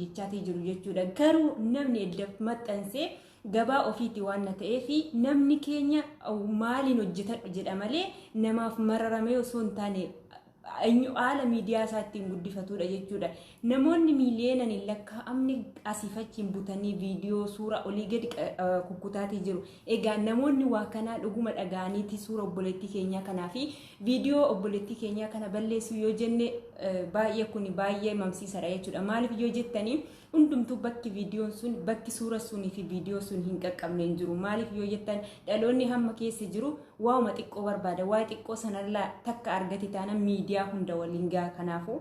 jechaati jiru jechuudha garuu namni eddaf maxxansee gabaa ofiiti waan na ta'ee fi namni keenya maaliin hojjetadhu jedha malee namaaf mararamee osoo hin taane eenyu haala miidiyaa isaa ittiin guddifatudha jechuudha. Namoonni miiliyoonaan hin lakkaa'amne asiif achiin butanii viidiyoo suuraa olii gadi kukkutaatii jiru. Egaa namoonni waa kanaa dhuguma dhaga'aniiti suura obboleettii keenyaa kanaa fi Viidiyoo obboleettii keenyaa kana balleessuu yoo jenne baay'ee kun baay'ee mamsiisadha jechuudha. Maaliif yoo jettanii hundumtuu bakki viidiyoon sun bakki suura sunii fi viidiyoo sun hin qaqqabne hin jiru. Maaliif yoo jettan dhaloonni hamma keessa jiru waa'uma xiqqoo barbaada. Waa'ee xiqqoo sanarraa takka argate taana miidiyaa hunda waliin gaha kanaafuu.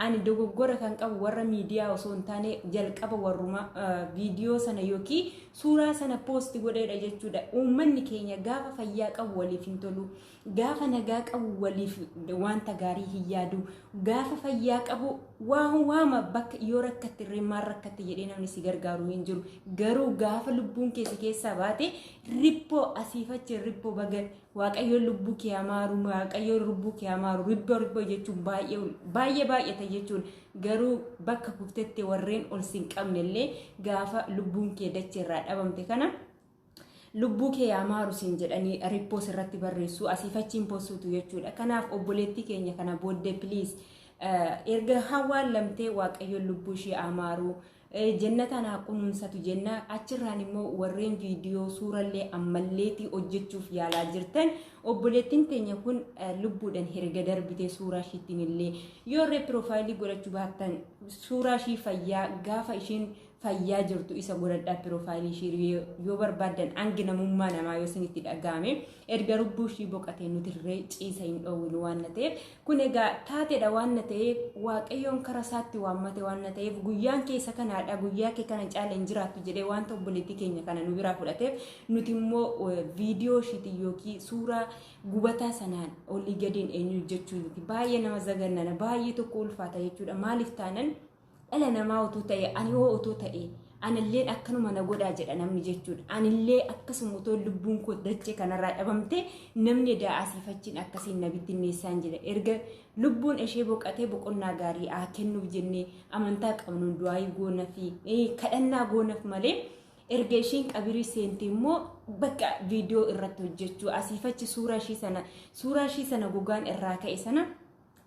Ani dogoggora kan qabu warra miidiyaa osoo hin taane jalqaba warruma viidiyoo sana yookiin suuraa sana poosti godheedha jechuudha. Uummanni keenya gaafa fayyaa qabu waliif hin tolu. Gaafa nagaa qabu waliif wanta gaarii hin yaadu. Gaafa fayyaa qabu waan waama bakka yoo rakkatti irree maal rakkatti jedhee namni si gargaaru hin jiru. Garuu gaafa lubbuun kee si keessaa baate rippoo asiifachi rippoo baga Waaqayyoon lubbuu kee amaaru waaqayyoon lubbuu kee amaaru ribboo ribboo jechuun baay'ee baay'ee baay'ata jechuun garuu bakka kuftetti warreen ol sin qabne illee gaafa lubbuun kee dachee irraa dhabamte kana lubbuu kee amaaru siin jedhanii rippoos irratti barreessuu asiif achiin postuutu jechuudha kanaaf obboleettii keenya kana booddee piliis erga hawaan lamtee waaqayyoon lubbuu ishee amaaru Jennataan haa kunuunsatu jenna achirraan immoo warreen viidiyoo suurallee ammalleetii hojjechuuf yaalaa jirtan obboleettiin teenya kun lubbuudhaan herga darbitee suuraa ishiittiin illee yoo irree piroofaayilii godhachuu baattan suuraa ishii fayyaa gaafa ishiin fayyaa jirtu isa godhadhaa piroofaayilii ishii yoo barbaaddan hangi namummaa namaa yoo isinitti dhaga'ame erga lubbuu ishii boqatee nuti irree ciisa hin dhoowwinu waan ta'eef Kun egaa taateedha waan na ta'eef waaqayyoon kara isaatti waammate waan na ta'eef guyyaan keessa kanaadha guyyaa kee kana caala hin jiraattu jedhee wanta obboleettii keenya kana nu biraa fudhateef nuti immoo viidiyoo ishiitiin yookiin suuraa gubataa sanaan olii gadiin eenyu jechuu miti baay'ee nama zagannana baay'ee tokko ulfaata jechuudha maaliif taanan dhala namaa utuu ta'e ani hoo utuu ta'e anilleen akkanuma na godhaa jedha namni jechuudha. Anillee akkasuma utuu lubbuun koo dachee kanarraa dhabamte namni edaa asiifachiin akkasiin na bittinneessaan jira. Erga lubbuun ishee boqatee boqonnaa gaarii haa kennuuf jennee amantaa qabnuun du'aayii goona fi kadhannaa goonaaf malee erga isheen qabirii seente immoo bakka viidiyoo irratti hojjechuu asiifachi suuraa ishee sana suuraa ishee sana gogaan irraa ka'e sana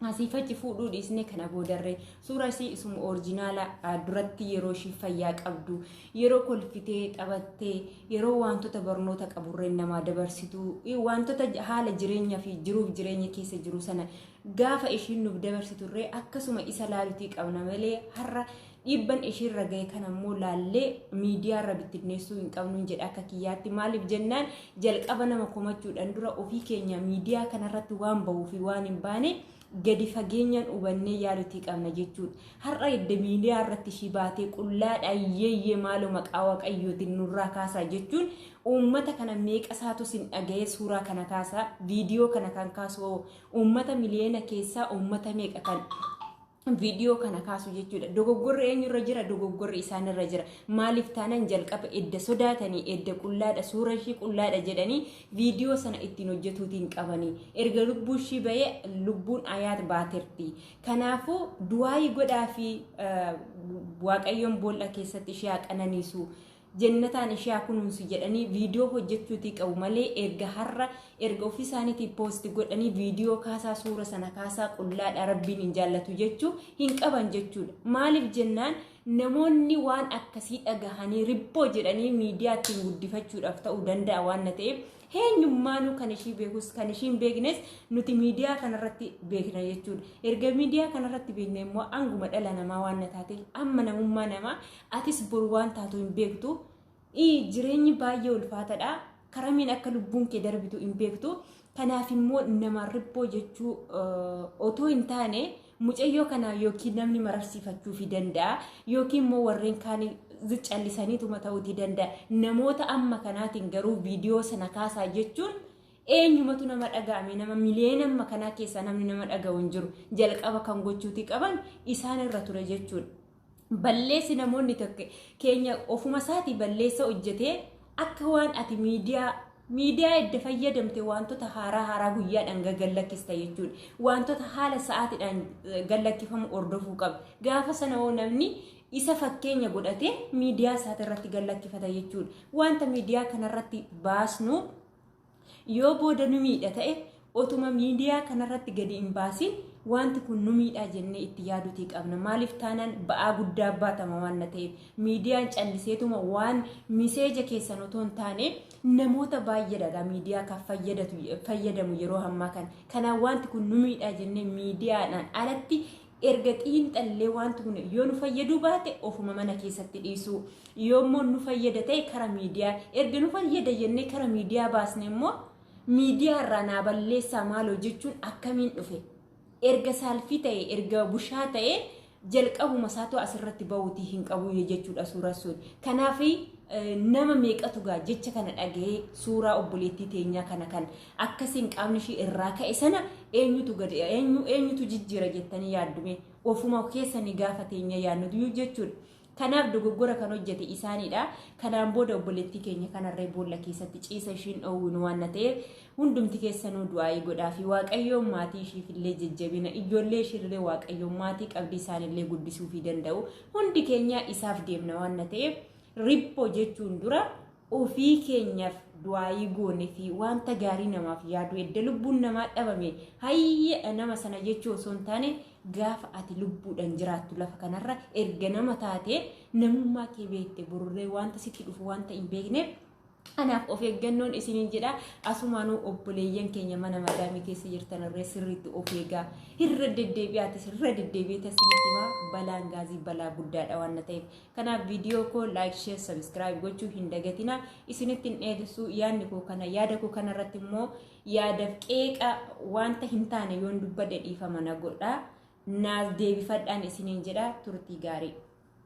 asiif achi fuudhuu dhiisnee kana boodarree suura isii isuma orijinaala duratti yeroo ishii fayyaa qabdu yeroo kolfitee taphattee yeroo wantoota barnoota qaburreen namaa dabarsitu wantoota haala jireenya fi jiruuf jireenya keessa jiru sana gaafa ishiin nuuf dabarsiturree akkasuma isa laalutii qabna malee har'a Dhiibban ishiirra gahe kana immoo laallee miidiyaarra bittinneessuu hin qabnu jedha akka kiyyaatti. Maaliif jennaan jalqaba nama komachuudhaan dura ofii keenya miidiyaa kanarratti waan bahuu fi waan hin baane gadi fageenyaan hubannee yaaduutii qabna jechuudha. Har'a edda miidiyaa irratti ishii baatee qullaadha yeeyyee maaloo maqaa waaqayyootiin nurraa kaasaa jechuun uummata kana meeqa isaatu sin dhaga'ee suuraa kana kaasaa viidiyoo kana kan kaasu uummata miliyoona keessaa uummata meeqa kan viidiyoo kana kaasu jechuudha. Dogoggorri eenyurra jira? Dogoggorri isaanirra jira. Maaliif taanaan jalqaba edda sodaatanii edda qullaadha suura ishii qullaadha jedhanii viidiyoo sana ittiin hojjetuutiin qabanii erga lubbuu ishii bahee lubbuun ayaat baaterti. Kanaafuu du'aayii godhaa fi waaqayyoon boolla keessatti ishee haa qananiisu. Jennataan ishee haa kunuunsu jedhanii viidiyoo hojjechuutii qabu malee erga har'a erga ofii isaaniitii poosti godhanii viidiyoo kaasaa suura sana kaasaa qullaadha rabbiin hin jaallatu jechuu hin qaban jechuudha. Maaliif jennaan namoonni waan akkasii dhagahanii ribboo jedhanii miidiyaa ittiin guddifachuudhaaf ta'uu danda'a waan na ta'eef heenyummaanuu kan ishii beekus kan ishii hin beeknes nuti miidiyaa kanarratti beekna jechuudha. Erga miidiyaa kanarratti beekne immoo anguma dhala namaa waan na taateef amma namummaa namaa Atis bor waan taatu hin beektu. Jireenyi baay'ee ulfaatadha. Karamiin akka lubbuun kee darbitu hin beektu. Kanaaf immoo nama ribboo jechuu otoo hin taane mucayyoo kana yookiin namni mararsiifachuufi danda'a yookiin immoo warreen kaan callisaniituma ta'uutii danda'a. Namoota amma kanaatiin garuu viidiyoo sana kaasaa jechuun eenyumatu nama dhaga'ame nama miliyoona amma kanaa keessaa namni nama dhaga'u hin jiru. Jalqaba kan gochuutii qaban isaan irra ture jechuudha. balleessi namoonni tokko keenya ofuma isaatii balleessa hojjetee akka waan ati miidiyaa miidiyaa edda fayyadamte wantoota haaraa haaraa guyyaadhaan gallakkista jechuudha. Wantoota haala sa'aatiidhaan gallakkifamu hordofuu qabda. Gaafa sana hoo namni isa fakkeenya godhatee miidiyaa isaati irratti gallakkifata jechuudha. Wanta miidiyaa kanarratti baasnu Yoo booda nu miidha ta'e otuma miidiyaa kanarratti gadi hin baasiin wanti kun nu miidhaa jennee itti yaaduutii qabna. Maaliif taanaan ba'aa guddaa baatama waan na ta'eef miidiyaan calliseetuma waan miseeja keessan otoo hin taane namoota baay'eedha miidiyaa kan fayyadatu fayyadamu yeroo ammaa kana. Kanaaf wanti kun nu miidhaa jennee miidiyaadhaan alatti erga xiinxallee wanti kun yoo nu fayyaduu baate ofuma mana keessatti dhiisuu yoo immoo nu fayyada ta'e kara miidiyaa erga nu fayyada jennee kara miidiyaa baasne immoo miidiyaa irraa naa balleessaa maaloo jechuun akkamiin dhufe erga saalfii ta'e erga bushaa ta'e jalqabuma isaatu asirratti ba'uutii hin qabu jechuudha suuraa sun kanaaf nama meeqatu gaa jecha kana dhaga'ee suuraa obboleettii teenyaa kana kan Akka isin qaamni ishii irraa ka'e sana eenyutu gad eenyu eenyutu jijjiira jettanii yaaddume ofuma keessanii gaafa teenya yaadnu duyyuu jechuudha. Kanaaf dogoggora kan hojjete isaaniidha. Kanaan booda obboleettii keenya kanarree boolla keessatti ciisa ishiin dhoowwinu waan ta'eef hundumti keessanuu du'aa'ii godhaa fi waaqayyoon maatii ishiifillee jajjabina ijoollee ishiillee waaqayyoon maatii qabdii isaanillee guddisuufii danda'u hundi keenya isaaf deemna waan ta'eef riphoo jechuun dura Ofii keenyaf du'aayii goonefii waanta gaarii namaaf yaaduu edda lubbuun namaa dhabame hayye nama sana jechuu osoo hin taane gaafa ati lubbuudhan jiraattu lafa kanarra erga nama taate namummaa kee beekte borurree waanta sitti dhufu waanta hin beekneef Kanaaf of eeggannoon isiniin jedha asumaanuu obboleeyyan keenya mana madaamii keessa jirtan irree sirriitti of eegaa irra deddeebi'aatis irra deddeebi'eetas isinitti himaa balaan gaazii balaa guddaadha waan ta'eef Kanaaf viidiyoo koo like, share, subscribe gochuu hin dagatina. Isinitti hin dheeressu yaadni koo kana yaada koo kana irratti immoo yaadaf qeeqa wanta hin taane yoon dubbadhe dhiifama na godha. Naaf deebifadhaan isiniin jedha turtii gaarii.